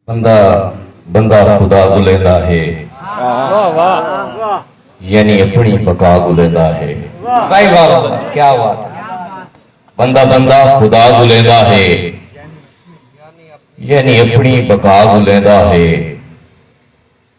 بندہ بندہ خدا کوں لیندا ہے یعنی اپنی بقا کوں لیندا ہے بندہ بندہ خدا کوں لیندا ہے یعنی اپنی بقا کوں لیندا ہے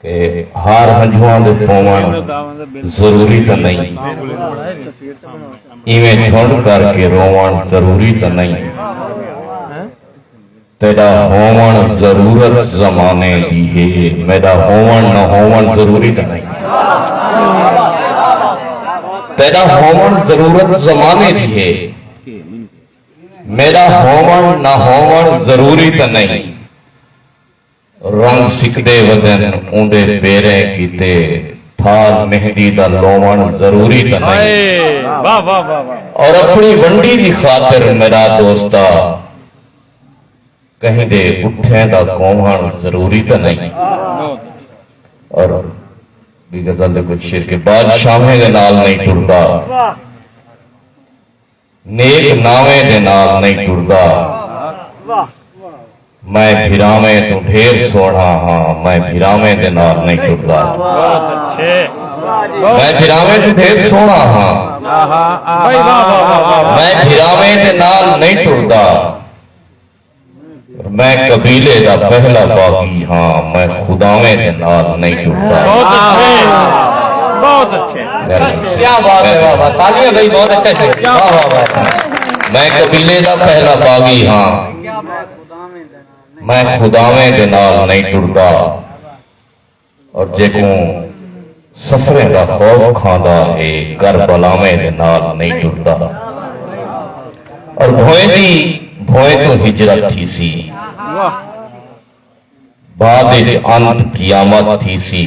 تے ہار ہنجواں دے پووݨ ضروری تاں نئیں۔ ایویں جھنڈ کر کے رووݨ ضروری تاں نئیں۔ تیݙا ہووݨ ضرورت زمانے دی ہے، میݙا ہووݨ نہ ہووݨ ضروری تاں نئیں۔ تیݙا ہووݨ ضرورت زمانے دی ہے، میݙا ہووݨ نہ ہووݨ ضروری تاں نئیں۔ رنگ سکدے ودن اوندے پیریں کیتے تھال مہندی دا لووݨ ضروری تاں نئیں اور اپݨی ونڈی دی خاطر میرا دوستا کہیں دے اٹھیں دا کوہݨ ضروری تاں نئیں اور ٻی غزل دے کجھ شعر کہ بادشاہیں دے نال نئیں ٹردا۔ نیک ناویں دے نال نئیں ٹردا میں بھراویں توں ڈھیر سوہݨا ہاں میں بھراویں دے نال نئیں ٹردا میں بھراویں توں ڈھیر سوہݨا ہاں میں بھراویں دے نال نئیں ٹردا میں قبیلے دا پہلا باغی ہاں میں خداویں دے نال نہیں ٹردا بہت اچھے بہت اچھے کیا بات ہے واہ واہ تالیاں بھائی بہت اچھے سے واہ واہ میں قبیلے دا پہلا باغی ہاں میں خداویں دے نال نہیں ٹردا اور جیکوں سفریں دا خوف کھاندا ہے گر بلاویں دے نال نئیں ٹردا اور بھوئیں دی بھوئیں توں ہجرت تھیسی بعد اچ انت قیامت تھیسی۔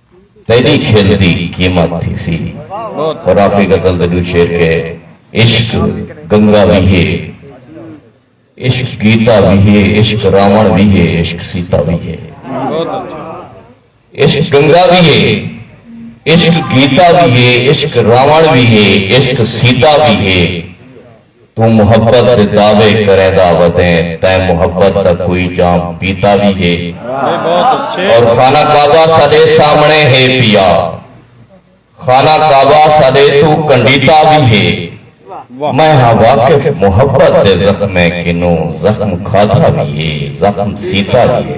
تیری کھل دی قیمت تھی سی رافی غزل دے دو شعر کے عشق گنگا وی ہے عشق گیتا وی ہے عشق راون وی ہے عشق سیتا وی ہے عشق گنگا وی ہے عشق گیتا وی ہے عشق راون وی ہے عشق سیتا وی ہے توں محبت دے دعوے کریندا ودیں تیں محبت دا کوئی جام پیتا وی ہے اور خانہ کعبہ ساڈے سامنے ہے پیا خانہ کعبہ ساڈے توں کنڈیتا وی ہے میں ہاں واقف محبت دے زخمیں کنوں زخم کھادا وی ہے زخم سیتا وی ہے